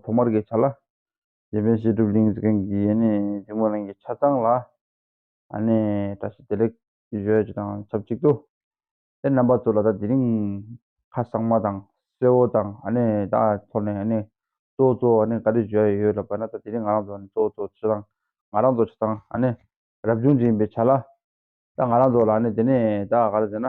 ཐོག་མར་གྱི་ཆ་ལ། རྗེ་དཔོན་བཤད་སྒྲུབ་གླིང་གཟིགས་མཁན་གྱི་ཡས་ནས་འཇིགས་མོ་གླིང་གི་ཆ་ཚང་ལ། བཀྲ་ཤིས་བདེ་ལེགས་ཞུ་བ་དང་ཆབས་ཅིག་ཏུ། དེར་རྣམ་པ་ཚོ་ལ་ད་དེ་རིང་ཁ་གསང་མ་དང་གསེར་བོ་དང་ད་ཐོག་ནས་གཙོ་བོ་གཙོ་བོ་བཀའ་དྲིན་ཞུ་བ་ཡོད་ལབ་པ་ན་ད་དེ་རིང་ང་རང་ཚོ་གཙོ་བོ་གཙོ་བོ་ཆ་ཚང་ང་རང་ཚོ་ཆ་ཚང་རབ་བྱུང་དྲན་པའི་ཆ་ལ། ད་ང་རང་ཚོ་ལ་དེ་ནས་ད་ག་རེ་ཟེར་ན།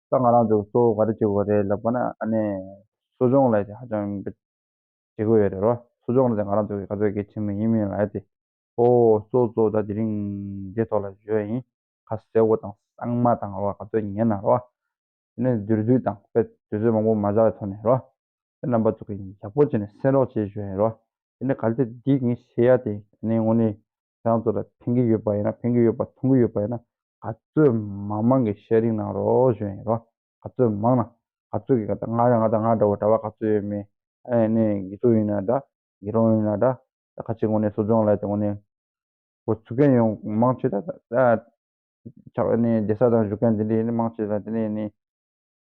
ད་ང་རང་ཚོ་གཙོ་བོ་ག་རེ་བྱེད་དགོས་རེད་ལབ་པ་ན་ཨ་ནེ། གསོ་སྦྱོང་ལས་ཀྱི་ཧ་ཅང་བྱེད་དགོས་ཡོད་རེད་རོ། གསོ་སྦྱོང་ལས་ང་རང་ཚོ་གི་ག་ཚོད་གལ་ཆེན་པོ་ཡིན་མིན་ལ་ཡ་སྟེ། ཨོ། གཙོ་གཙོ་ད་དེ་རིང་འདི་ཐོག་ལ་བཞོས་ཡིན་ཁ་སེར་བོ་དང་གཙང་མ་དང་རོ་ག་ཚོད་ཉན་ན་རོ། དེ་ནས་དུར་དུས་དང་དཔེ་དུས་ཚོད་མང་པོ་མ་བཞག་པའི་ཐོག་ནས་རོ། དེ་རྣམ་པ་ཚོ་གི་ཡག་པོ་བྱས་ནས་སེམས་རོགས་བྱེད་བཞོས་ཡིན་རོ། དེ་ནས་ག་ལྟེ་འདི་ངས་བྱེད་ཡ་སྟེ་ཨ་ནེ་ངོ་ནི། རང་ཚོ་ལ་ཕན་གྱི་ཡོད་པ་ཡིན་ན་ཕན་གྱི་ཡོད་པ་མཐོང་གི་ཡོད་པ་ཡིན་ན་ག་ཚོད་མང་མང་གི་ཤེ་རིང་གནང་རོགས་གཞོན་ཡིན་རོགས་ག་ཚོད་མང་ན་ག་ཚོད་ཀྱི་ག་ད་ང་རང་ང་ད་ང་འདྲ་བོ་གྲྭ་བ་ག་ཚོད་ཡོད་མེད་ཨེ་ནས་གི་ཚོད་ཡིན་ན་འདྲ་གི་རོང་ཡིན་ན་འདྲ་ད་ག་ཅིག་ངོ་ནས་གསོ་སྦྱོང་ལ་དེ་ངོ་ནས་གོ་ཚུགས་མཁན་ཡོང་མང་ཆེ་ད་ད་ཆགས་ཨེ་ནས་རྒྱལ་ས་དང་བཞུགས་མཁན་དེ་འདྲ་ཡིན་ན་མང་ཆེ་ད་དེ་འདྲ་ཡིན་ནས།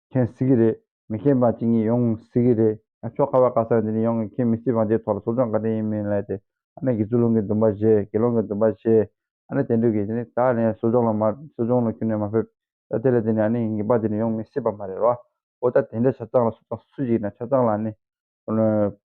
མཁྱེན་སྲིད་ཀྱི་རེད། མི་མཁྱེན་པ་ཅིག་ཉིད་ཡོང་སྲིད་ཀྱི་རེད། ཆོ་ག་བ་ག་ས་འདི་ནས་ཡོང་གི་མཁྱེན་མི་སྲིད་བ་འདིའི་ཐོག་ལ་ཟུར་ལྗོངས་བཀའ་དྲིན་ཡིན་མིན་ལས་དེ། ཨ་ནེ་དགེ་ཚུལ་ལུང་གི་འདུན་པ་བཞེས་དགེ་སློང་གི་འདུན་པ་བཞེས། ཨ་ནེ་དེ་འདྲུད་ཀྱི་ནི་ད་ནས་ཟུར་ལྗོངས་ལ་མ་ཟུར་ལྗོངས་ལ་ཁྱོད་ནས་མ་ཕེབས། ད་དེ་ལས་དེ་ནས་ཨ་ནེ་ཡི་ངེས་པ་འདི་ནས་ཡོང་མི་སྲིད་པ་མ་རེད་རོ། འོ་ད་དེ་འདྲ་ཆ་ཚང་ལ་སུ་དང་སུ་ཞིག་ཡིན་ན་ཆ་ཚང་ལ་ཨ་ནེ།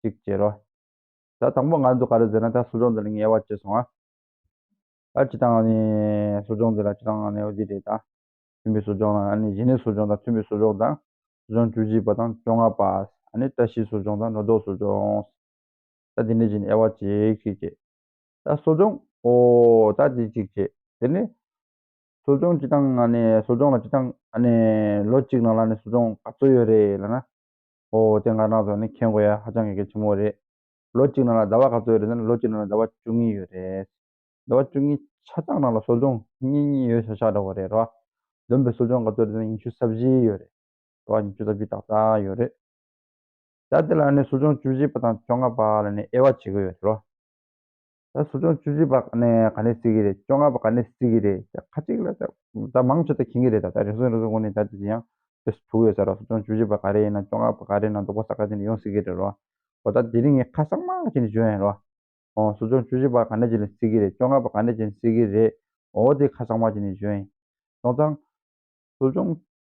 གཅིག་ཅེས་རོ། ད་དང་པོ་ང་ཚོ་ག་རེ་ཟེར་ན་ད་གསོ་སྦྱོང་འདི་ལ་ངལ་བ་བྱས་སོང་ཨ། ད་ཅི་དང་ནི་གསོ་སྦྱོང་འདི་ལ་ཅི་དང་ནི་འདི་རེད་ད། མཐུན་པའི་གསོ་སྦྱོང་ལ་ནི་གཞི་ནས་གསོ་སྦྱོང་དང་མཐུན་པའི་གསོ་སྦྱོང་དང་གསོ་སྦྱོང་བཅུ་གཅིག་པ་དང་བཅོ་ལྔ་པ། ནི་བཀྲ་ཤིས་གསོ་སྦྱོང་དང་ནོར་དོགས་གསོ་སྦྱོང། ད་འདི་ནི་གཞི་ནས་ཨེ་བ་ཅིག་ཅིག་ཅེས། ད་གསོ་སྦྱོང་ཨོ་ད་ཅིག་ཅིག་ཅེས་དེ་ནི། གསོ་སྦྱོང་ཅི་དང་ནི་གསོ་སྦྱོང་ལ་ཅི་དང་ནི་ལོ་གཅིག་ནང་ལ་ནི་གསོ་སྦྱོང་ག་ཚོད་ཡོད་རེད་ལ་ན། ཨོ་དེ་ང་རང་ཚོ་ནི་མཁྱེན་དགོས་ཡ་ཧ་ཅང་གི་གལ་ཆེན་པོ་རེད། ལོ་གཅིག་ནང་ལ་ཟླ་བ་ག་ཚོད་ཡོད་རེད་ན་ལོ་གཅིག་ནང་ལ་ཟླ་བ་བཅུ་གཉིས་ཡོད་རེད། ཟླ་བ་བཅུ་གཉིས་ཆ་ཚང་ནང་ལ་སོ་ལྗོངས་གཉིས་གཉིས་ཡོད་ཤག་ཤག་འདྲ་བོ་རེད་ར། བདུན་པའི་སོ་ལྗོངས་ག་ཚོད་རེད་ན་ཉི་ཤུ་རྩ་བཞི་ཡོད་རེད་ར་ཉི་ཤུ་རྩ་བཞི་ཏག་ཏག་ཡོད་རེད། ད་དེ་ལ་ནི་སོ་ལྗོངས་བཅུ་བཞི་པ་དང་བཅོ་ལྔ་པ་ལ་ནི་དབྱེ་བ་བྱེད་དགོས་ཡོད་རེད་ར། ད་ཟུར་སྦྱོང་བཅུ་བཞི་པ་ག་ནས་ག་ནས་སྲིད་ཀྱི་རེད་བཅོ་ལྔ་པ་ག་ནས་སྲིད་ཀྱི་རེད་ད་ཁ་ཅིག་ལ་ད་མང་ཆེ་ད་མཁྱེན་གྱི་རེད་ད་ད་རེ་ཟུང་རེ་ཟུང་གོ་ནས་ད་དེ་ཡང་ཡང་དེ་སུ་ཐུག་ཡོད་ས་ར་ཟུར་སྦྱོང་བཅུ་བཞི་པ་ག་རེ་ཡིན་ན་བཅོ་ལྔ་པ་ག་རེ་ཡིན་ན་རྡོག་པ་ས་ག་ཅིག་ནས་ཡོང་སྲིད་ཀྱི་རེད་རོ། འོ་ད་དེ་རིང་ངས་ཁ་སང་མང་ཆེ་ནས་བརྗོད་ཡིན་རོ། ཨོ་ཟུར་སྦྱོང་བཅུ་བཞི་པ་ག་ནས་ཅིག་ལས་སྲིད་ཀྱི་རེད་བཅོ་ལྔ་པ་ག་ནས་ཅིག་ནས་སྲིད་ཀྱི་རེད་ཨོ་དེ་ཁ་སང་མང་ཆེ་ནས་བརྗོད་ཡིན། དོང་ཙང། ཟུར་སྦྱོང་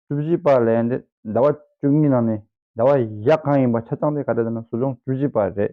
བཅུ་བཞི་པ་ལས་འདི་ཟླ་བ་བཅུ་གཉིས་ནང་ནས་ཟླ་བ་བཞི་གང་ཡིན་པ་ཆ་ཚང་དེ་ག་རེ་ད་ན་ཟུར་སྦྱོང་བཅུ་བཞི་པ་རེད།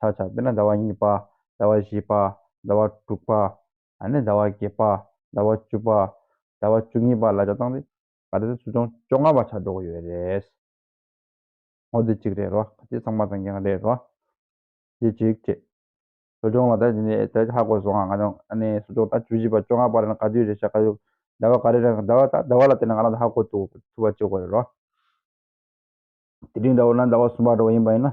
ཆག་ཆག་དཔེར་ན་ཟླ་བ་གཉིས་པ། ཟླ་བ་བཞི་པ། ཟླ་བ་དྲུག་པ། ནི་ཟླ་བ་བརྒྱད་པ། ཟླ་བ་བཅུ་པ། ཟླ་བ་བཅུ་གཉིས་པ་ལ་ཆག་བཏང་སྟེ་ད་ལྟའི་ཚུལ་ཅུང་བཅོ་ལྔ་པ་ཆག་འགྲོ་གི་ཡོད་རེད། ངོ་དེ་གཅིག་རེད་རོ། དེ་ཚང་མ་དང་གི་ང་རེད་རོ། དེ་གཅིག་བྱས། ཚུལ་ཅུང་ལ་ད་དེ་ནི་ད་ཧ་གོ་སོང་ང་རང་ཨ་ནི་ཚུལ་ཅུང་ད་བཅུ་བཞི་པ་བཅོ་ལྔ་པ་རེད་ན་ག་དུས་རེད་ཤག་ག་དུས་ཟླ་བ་ག་རེ་རེད་ཟླ་བ་ད་ཟླ་བ་ལ་བལྟས་ན་ང་རང་ད་ཧ་གོ་ཐུབ་པ་གཅིག་གོ་རེད་རོ། དེ་རིང་ཟླ་བ་ན་ཟླ་བ་གསུམ་པ་འགྲོ་བ་ཡིན་པ་ཡིན་ན་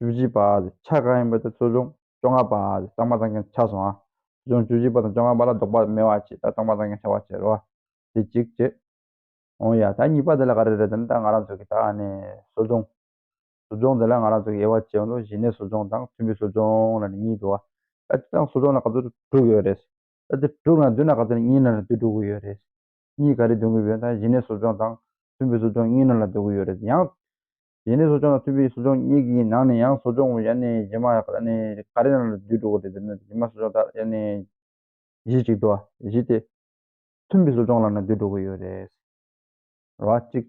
བཅུ་བཞི་པ། ཆ་གང་ཡིན་པ་དེ་གསོ་སྦྱོང་བཅོ་ལྔ་པ། གཙང་མ་གཙང་མཁན་ཆ་སོང་ང། གསོ་སྦྱོང་བཅུ་བཞི་པ་དང་བཅོ་ལྔ་པ་ལ་བཟློག་པ་མེད་བ་བྱས་ད་གཙང་མ་གཙང་མཁན་ཆ་བ་བྱས་རོ། དེ་གཅིག་བྱས། ཨོ་ཡ། ད་གཉིས་པ་དེ་ལ་ག་རེ་རེད་དམ་ད་ང་རང་ཚོ་གི་ད་ཨ་ནི་གསོ་སྦྱོང། གསོ་སྦྱོང་དེ་ལ་ང་རང་ཚོ་གི་དབྱེ་བ་བྱས་འདུག་གཞི་ནས་གསོ་སྦྱོང་དང་མཐུན་པའི་གསོ་སྦྱོང་ལ་ནི་གཉིས་འདུག་ཨ། ད་དེ་དང་གསོ་སྦྱོང་ལ་ག་ཚོད་དྲུག་ཡོད་རེད། ད་དེ་དྲུག་ལ་འདུས་ན་ག་ཚོད་གཉིས་ནང་ལ་འདུས་འགྲོ་གི་ཡོད་རེད། གཉིས་ག་རེ་འདུས་གི་ཡོད་ད་གཞི་ནས་གསོ་སྦྱོང་དང་མཐུན་པའི་གསོ་སྦྱོང་གཉིས་ནང་ལ་འདུས་གི་ཡོད་རེད་ཡང། ཡེ་ནས་གསོ་སྦྱོང་དང་མཐུན་པའི་གསོ་སྦྱོང་གཉིས་ཀྱི་ནང་ནས་ཡང་གསོ་སྦྱོང་ཡེ་ནས་ཇི་མ་ཀ་རེ་རྣམས་ལ་བསྡུས་འགྲོ་དགོས་ཏེ་འདིར་ནི་ཇི་མ་གསོ་སྦྱོང་དག་ཡེ་ནས་གཞི་གཅིག་ཏུ་བཞི་སྟེ། མཐུན་པའི་གསོ་སྦྱོང་ལ་ནི་བསྡུས་འགྲོ་དགོས་ཡོད་རེད། ར་བ་གཅིག།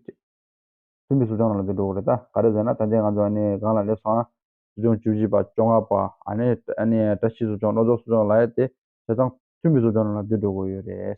མཐུན་པའི་གསོ་སྦྱོང་རྣམས་ལ་བསྡུས་འགྲོ་དགོས་རེད་ད་ག་རེ་ཟེར་ན་ད་ལྟའི་ང་ཚོ་སྒང་ལ་སླེབས་སོང་ན། གསོ་སྦྱོང་བཅུ་བཞི་པ་བཅོ་ལྔ་པ། བཀྲ་ཤིས་གསོ་སྦྱོང་བློ་རྫོགས་གསོ་སྦྱོང་ལ་ཡོད་དེ། དེ་ཚང་མཐུན་པའི་གསོ་སྦྱོང་རྣམས་ལ་བསྡུས་འགྲོ་དགོས་ཡོད་རེད།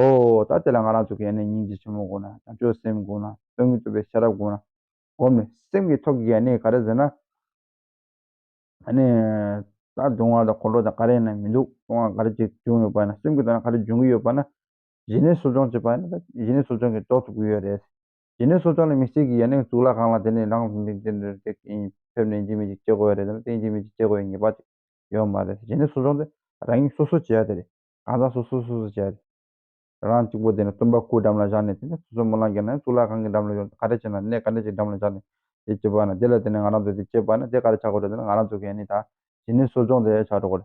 ཨོ། ད་དེ་ལ་ང་རང་ཚོ་གན་ནས་སྙིང་རྗེ་ཆེན་མོ་དགོས་ན་བྱང་ཆུབ་སེམས་དགོས་ན་དོན་དངོས་རྩོད་པའི་ཤེས་རབ་དགོས་ན། བསྒོམས་ནས་སེམས་ཀྱི་ཐོག་གི་གནས་ག་རེ་ཟེར་ན། ད་སྡུག་བསྔལ་དང་ཁོང་ཁྲོ་དང་ག་རེ་ཡིན་ན་མི་འདུག་སྡུག་བསྔལ་ག་རེ་ཅིག་བྱུང་ཡོད་པ་ན་སེམས་ཀྱི་ཐོག་ན་ག་རེ་འབྱུང་གི་ཡོད་པ་ན། གཞི་ནས་གསོ་སྦྱོང་བྱེད་པ་ཡིན་ན་ད་གཞི་ནས་གསོ་སྦྱོང་གིས་རྟོགས་ཐུབ་ཀྱི་ཡོད་རེད། གཞི་ནས་གསོ་སྦྱོང་ལ་མི་སེར་གྱི་ཡ་ནས་གཙུག་ལག་ཁང་ལ་དེ་ནས་ལངས་ཟིན་པའི་དུས་འདིར་དེ་གཉིས་ཕེབས་ནས་འཇིགས་མེད་ཅིག་བྱེད་དགོས་ཡ་རེད་ཟེར་ན་དེ་འཇིགས་མེད་ཅིག་བྱེད་དགོས་ཡའི་ངེས་པ་ཅིག་ཡོད་མ་རེད། གཞི་ནས་གསོ་སྦྱོང་དེ་རང་ཉིད་སོ་སོས་བྱེད་ཡ་དེ་རེད། གང་ཟག་སོ་སོས་སོ་སོར་བྱས། རང་གཅིག་པོ་དེ་ནི་སྟོན་པ་སྐུའི་འགྲམ་ལ་བཞག་ནས་དེ་ནི་སོ་སོའི་སྨོན་ལམ་གྱིས་ན་ཡང་གཙུག་ལག་ཁང་གི་འགྲམ་ལ་ཡོང་སྟེ་ག་རེ་བྱས་ན་གནས་ག་འདྲ་ཞིག་འགྲམ་ལ་བཞག་ནས་དེ་བྱེད་པ་ན་དེ་ལ་བརྟེན་ནས་ང་རང་ཚོས་དེ་བྱེད་པ་ན་དེ་ག་རེ་བྱ་དགོས་རེད་ཟེར་ན་ང་རང་ཚོས་གཞི་ནས་དང་གཞི་ནས་གསོ་སྦྱོང་དེ་བྱ་འགྲོ་དགོས་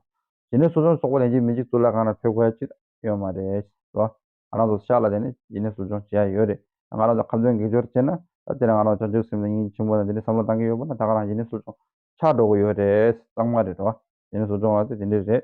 རེད། གཞི་ནས་གསོ་སྦྱོང་གསོག་པ་ལས་གཞན་མི་གཅིག་གཙུག་ལག་ཁང་ན་ཕེབས་ཁ་ཅིག་ཡོད་མ་རེད་ལ། ང་རང་ཚོ་ཤག་ལ་བརྟེན་ནས་གཞི་ནས་གསོ་སྦྱོང་བྱེད་ཡ་ཡོད་རེད། ད་ང་རང་ཚོ་ཁམས་དོན་གེགས་སྦྱོར་བྱས་ན་ད་དེ་ལ་ང་རང་ཚོ་བྱང་ཆུབ་སེམས་དང་སྙིང་རྗེ་ཆེན་པོ་དང་དེ་འདྲའི་བསམ་བློ་གཏང་གི་ཡོད་པ་ན་ད་ག་རང་གཞི་ནས་གསོ་སྦྱོང་བྱ་འགྲོ་གི་ཡོད་རེད་གཙང་མ་རེད། གཞི་ནས་གསོ་སྦྱོང་ལ་དེ་དེ་འདྲས་རེད།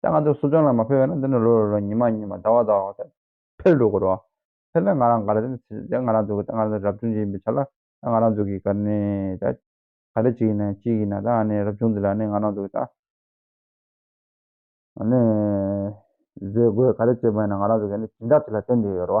ད་ང་ཚོ་སུ་ལྗོངས་ལ་མ་ཕེབས་པས་ན་འདི་ནས་ལོ་རེ་རེར་ཉིན་མ་ཉིན་མ་ཟླ་བ་ཟླ་བ་འོག་ཚེ་འཕེལ་འགྲོ་དགོས་རོ། འཕེལ་ལ་ང་རང་ག་རེ་ཟེར་ན་ད་ང་རང་ཚོ་གི་ད་ང་རང་ཚོ་རབ་བྱུང་ཅིག་ཡིན་པའི་ཆ་ལ་ད་ང་རང་ཚོ་གི་ག་ནི་ད་ག་རེ་ཅིག་ཡིན་ན་གཅིག་ཡིན་ན་ད་ཨ་ནི་རབ་བྱུང་འདི་ལ་ནི་ང་རང་ཚོ་གི་ད་ཨ་ནི་ཟས་གོས་ག་རེ་བྱེད་པ་ཡིན་ན་ང་རང་ཚོ་གི་ནི་སྦྱིན་བདག་དེ་ལ་བརྟེན་དུ་ཡོད་རོ།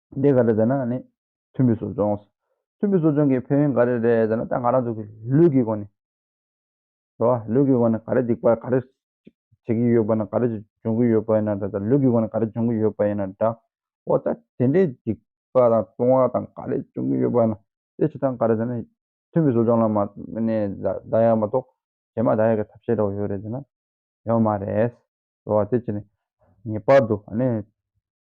འདི་ག་རེ་ཟེར་ན་ནི་མཐུན་པའི་གསོ་སྦྱོང། མཐུན་པའི་གསོ་སྦྱོང་གི་ཕན་ཡོན་ག་རེ་རེད་ཟེར་ན་ད་ང་རང་ཚོ་གི་ལུས་ཀྱི་སྒོ་ནས། རེད་བ། ལུས་ཀྱི་སྒོ་ནས་ག་རེ་སྡིག་པ་ག་རེ་བྱེད་ཀྱི་ཡོད་པ་ན་ག་རེ་འབྱུང་གི་ཡོད་པ་ཡིན་ན་འདྲ་ད་ལུས་ཀྱི་སྒོ་ནས་ག་རེ་འབྱུང་གི་ཡོད་པ་ཡིན་ན་འདྲ། འོ་ད་དེ་འདྲའི་སྡིག་པ་དང་ལྟུང་བ་དང་ག་རེ་འབྱུང་གི་ཡོད་པ་ན་དེ་བྱེད་སྟངས་ག་རེ་ཟེར་ན། མཐུན་པའི་གསོ་སྦྱོང་ལ་མ་ནས་ད་ཡག་མ་གཏོགས་གཞན་མ་ད་ཡག་གི་ཐབས་ཤེས་རོགས་ཡོད་རེད་ཟེར་ན་ཡོད་མ་རེད། རེད་བ། དེ་བྱས་ནས་ངེས་པར་དུ་ཨ་ནི་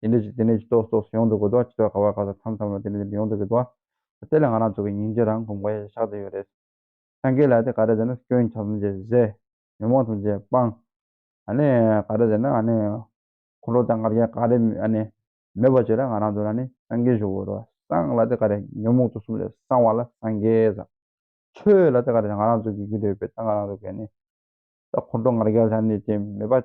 དེ་འདྲའི་ཆེད་དེ་འདྲའི་ཆེད་སོགས་སོགས་སུ་ཡོང་དུ་དགོས་དོ་ཅི་ཐོག་ག་བར་ག་སོགས་མཚམས་མཚམས་ལ་དེ་འདྲ་དེ་འདྲ་ཡོང་དུ་དགོས་དོ། དེ་ལས་ང་རང་ཚོ་གི་སྙིང་རྗེ་རང་གོམས་དགོས་ཡ་ཤག་དེ་ཡོད་རེད། སངས་རྒྱས་ལ་དེ་ག་རེ་ཟེར་ན་སྐྱོན་ཆ་ཐམས་ཅད་བཟད། ཉོན་མོངས་ཐམས་ཅད་སྤང། ཨ་ནི་ག་རེ་ཟེར་ན་ཨ་ནི། འཁོར་ལོ་དང་ལྔ་བརྒྱ་ག་རེ་ཨ་ནི། མེད་པ་བྱས་ལ་ང་རང་ཚོ་ལ་ནི་སངས་རྒྱས་བཞུགས་དགོས་དོ། སངས་ལ་དེ་ག་རེ་ཉོན་མོངས་དུག་གསུམ་ལས་སངས་བ་ལ་སངས་རྒྱས་ཟེར། ཆོས་ལ་དེ་ག་རེ་ང་རང་ཚོ་གི་རྒྱུད་འབྲེལ་ཡོད་པའི་ད་ང་རང་ཚོ་གི་ཨ་ནི། ད་འཁོར་ལོ་ངར་བརྒྱ་ལྷག་ནི་དེ་མེད་པ།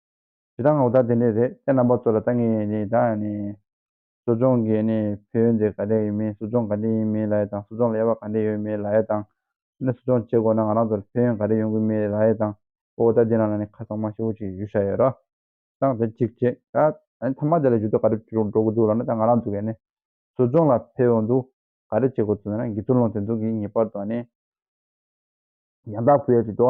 ཇི་ལྟར་ངག་བདག་དེ་འདྲས་རེད་ཅེས་རྣམ་པ་ཚོ་ལ་ལྟ་ངེས་ཡིན་ད། གསོ་སྦྱོང་གི་བེུད་འདི་ག་འདྲས་ཡོད་མིན་གསོ་སྦྱོང་ག་འདྲས་ཡིན་མིན་ལ་ཡ་དང་གསོ་སྦྱོང་ལ་ཡ་བ་ག་འདྲས་ཡོད་མེད་ལ་ཡ་དང། ད་ནི་གསོ་སྦྱོང་བྱེད་དགོས་ན་ང་རང་ཚོར་བེུད་ག་འདྲས་ཡོང་གི་མེད་ལ་ཡ་དང། ཨོ་ཨོ་ད་འདི་རང་ལ་ནི་ཁ་གཙང་མ་ཤི་བོ་ཅིག་ཞུ་བྱ་ཡོད་ར། ད་དེ་གཅིག་བྱེད་ད། མཐའ་མ་དེ་ལ་ཞུ་དུས་ག་འདྲས་འགྲོ་གི་འདུག་ལ་ནི་ད་ང་རང་ཚོ་གས་ནི་གསོ་སྦྱོང་ལ་བེུད་འདུག་ག་འདྲས་བྱེད་དགོས་ཚུལ་ལ་ནི་འགི་ཚུར་ལོངས་ཐེ་འདུག་གི་ངེས་པར་དུ་ཨ་ནི། ཡང་དག་བེུད་ཡ་བྱེད་དོ།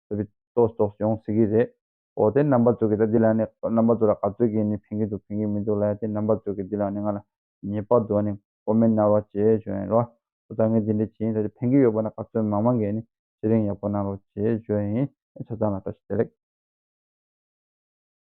བཟོ་པའི་ལྟོ་ཟོག་ཡོང་སྲིད་ཀྱི་རེད། འོ་དེ་རྣམ་པ་གཙོ་གི་ད་འདི་ལ་ནི་རྣམ་པ་གཙོ་ལ་ག་ཚོད་ཀྱིས་ནི་ཕན་གྱི་འདུག་ཕན་གྱི་མི་འདུག་ལ་ཡ་དེ་རྣམ་པ་གཙོ་གི་འདི་ལ་ནི་ང་ལ་ཉེས་པ་འདུག་ཨ་ནི་ཀོ་མེད་གནང་རོགས་བྱེད་བྱོས་ཡིན་རོགས་ཨོ་ད་ངས་འདི་འདྲས་བྱེད་ཡིན་ད་ཆ་ཕན་གྱི་ཡོད་པ་ན་ག་ཚོད་མང་མང་གིས་ནི་ཚེ་རིང་ཡག་པོ་གནང་རོགས་བྱེད་བྱོས་ཡིན་ཨེ་ཆ་ཚང་ལ་བཀྲ་ཤིས་བདེ་ལེགས།